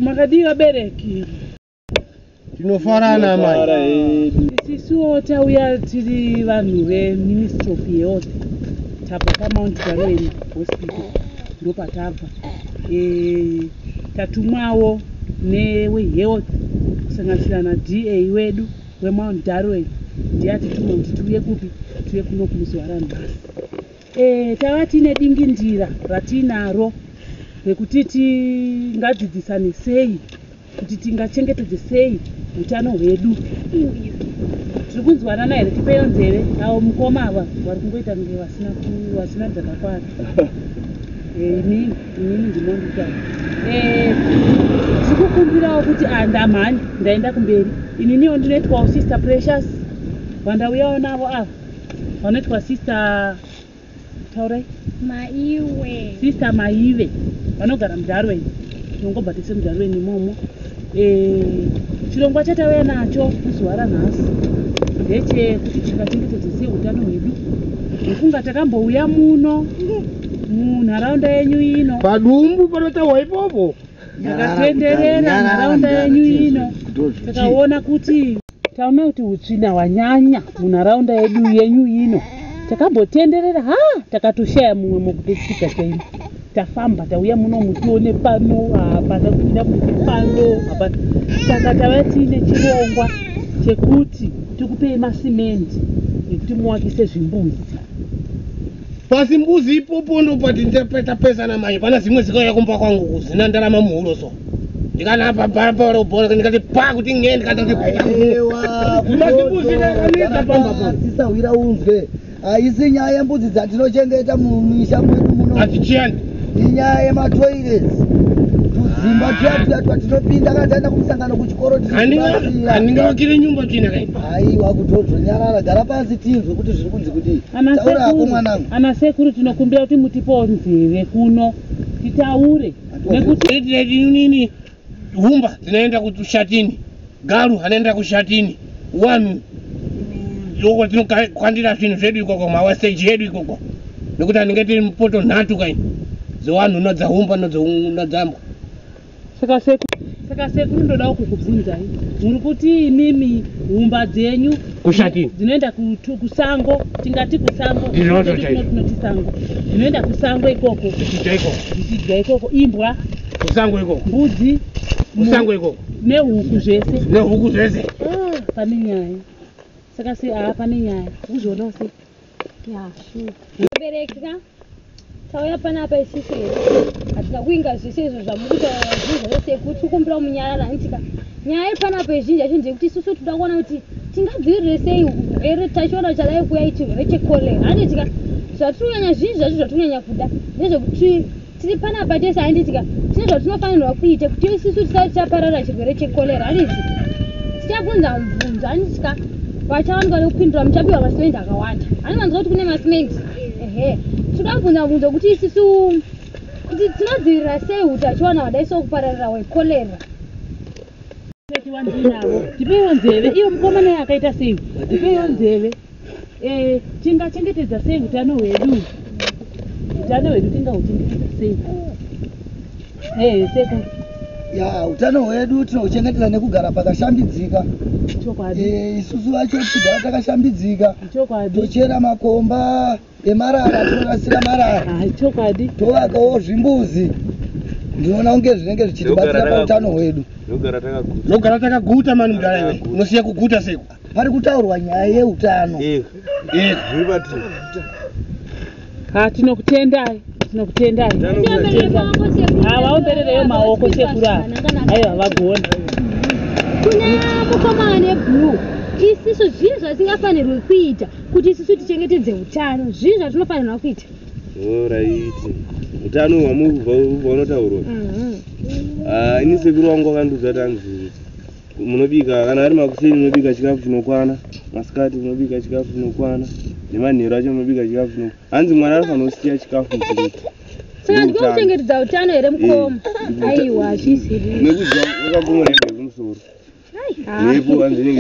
makadii vabereki tinofarana mai Fara hedu. isisuwo tauya tiri vanhu veministry of health tabva pamount gwarweni hospital ndopatabva Eh, Tatumwawo newehealth kusanganisira naDA wedu weMount Darwin ndiye atituma kuti tiuye kupi tiuye kuno kumuzohara nhasi. E, tava tiine dingindira ratiinaro rekuti tingadzidzisane sei kuti tingachengetedze sei utano hwedu. Tiri kunzwanana here? Tipeyo nzeve avo mukoma ava vari kungoita kunge vasina dzakakwana. Amen. Inini ndinondiita. Eh, sikukumbirawo kuti andamhani ah, ndaenda kumberi. Ininiwo ndinoitwa usister precious. Vandauyawo navo ava. Vanoitwa sister taurai. Maiwe. Sister Maive. Vanogara mudarweni. Ndinongobatisa mudarweni imomo. Eh, chirongwa chatauya nacho muzuva ranhasi ndechekuti tingachengetedze sei utano hwedu nekunga takambouya muno munharaunda yenyu ino padumbu panotaurwa ipopo yakatenderera nharaunda yenyu ino takaona kuti Taona kuti utsvina hwanyanya munharaunda yedu yenyu ino. Takambotenderera ha takatoshaya mumwe mokutosvika chaimo. Tafamba tauya muno mutione pano hapana kuda kuti pano hapana. Saka tava tiine chirongwa chekuti tikupei masimendi ekuti muwakise zvimbuzi. Pasi mbuzi ipopo ndopati ndapeta pesa na mai pana zimwe zikauya kumba kwangu kuzina ndarama muhuro so. Ndikanapa bhara bhara ubona ndikati pa kuti nge ndikati kuti ewa mbuzi mbuzi ndakaneta pamba po. Sisa wira unzwe. Haisi nyaya yembudzi dzatinochengeta mumisha mwedu muno. Hatichiyani. Inyaya yematoilets. Tudzimba tuya tuya twatinopinda kana taenda kumusangano kuchikoro tiandingavakire nyumba china kai. Haiwa kutozonyarara gara pasi tinzwe kuti zviri kunzi kudii. Taura hako mwanangu. Ana sekuru tinokumbira kuti mutipewo nzeve kuno titaure nekuti nini humba tinoenda kushatini garu anoenda kushatini wanu uko tinokandira zvinhu zvedu ikoko mawasteji yedu ikoko nekuti anenge tiri mupoto nhatu kaini dzewanhu nodzaumba nodzambwa Saka sekuru, saka sekuru ndodawo kukubvunzai. Muri kuti imimi humba dzenyu kushati dzinoenda kutu kusango tingati kusango ndinoto chaiko tinoti sango dzinoenda kusango ikoko tichidya ikoko tichidya ikoko imbwa kusango ikoko mbudzi kusango ikoko nehuku zvese nehuku zvese ah, pane nyaya saka se haa pane nyaya kuzvionawo sei Mubereki ka tauya panapa isisu here hatina kuinga zvese izvo zvamukutaura zvinhu zvese kuti ukumbira munyarara handitika nyaya iri panapa izhinji yacho ndeyekuti isusu tinoda kuona kuti tingadzivirire sei here tachiona chadai kuya ichirwere chekolera handitika zvatiri kunyanya zvinji zvacho zvatiri kunyanya kuda ndezvekuti tiri panapa tese handitika tine zvatinofanirwa kuita kuti isisu tisati tichaparara chirwere chekolera handizi tichabvunza mubvunzo handitika vachawanikwa nekupindura muchapiwa masimendi akawanda haniwanzwa kuti kune masimendi ehe tinoda kubvunza mubvunzo kuti isisu kuti tinodzivirira sei utachiwana hwadai sokupararira hwekolera tipewo nzeve iyo mukomana yakaita sei tipewo nzeve eh, tingachengetedza sei utano hwedu utano hwedu tingauchengetedza sei eh, sekuru ya utano hwedu tinouchengetedza nekugara pakashambidzika chokwadi eh, isusu vacho tigara takashambidzika chokwadi tochera makomba emarara tinorasira marara ah, chokwadi tovakawo zvimbuzi ndinoona kunge zvinenge zvichitibatsira pautano hwedu nogara takaguta mani mudara iwe unosiya kuguta seku pari kutaurwa nyaya yeutano eh, eh. ah, tinokutendai tinokutendai havaomberereyo ah, maoko sekuru ava aiwa havagoni kune mukomana neblue isiso zvinhu zvasingafanirwe kuita kuti isusu tichengetedze utano zvii zvatinofanirwa kuita oraiti utano hwamunotaurwa mhm. ah, ini sekuru wangu wakandiudza tanzi munobika kana ari makuseni munobika chikafu chinokwana masikati munobika chikafu chinokwana nemanheru acho munobika chikafu chino hanzi mwana anofanira kusiya chikafu muchiriti saakuchengetedza utano here mukoma eh, aiwa hazvisiri nekuti wakagomorehekumusoro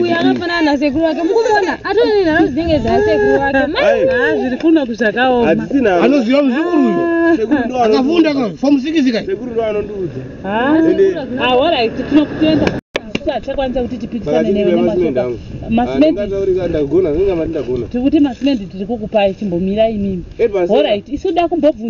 uyo anofanana nasekuru wake mukuona atone nharo dzinenge dzasekuru wake ah, zviri kuno kuzvakaomaanoziva muzukuru uyu ah. akafunda fomusikizika achakwanisa kuti tipikisane nevenematikuti masimendi tiri kukupai chimbomira imimi orit isu da kumbobvu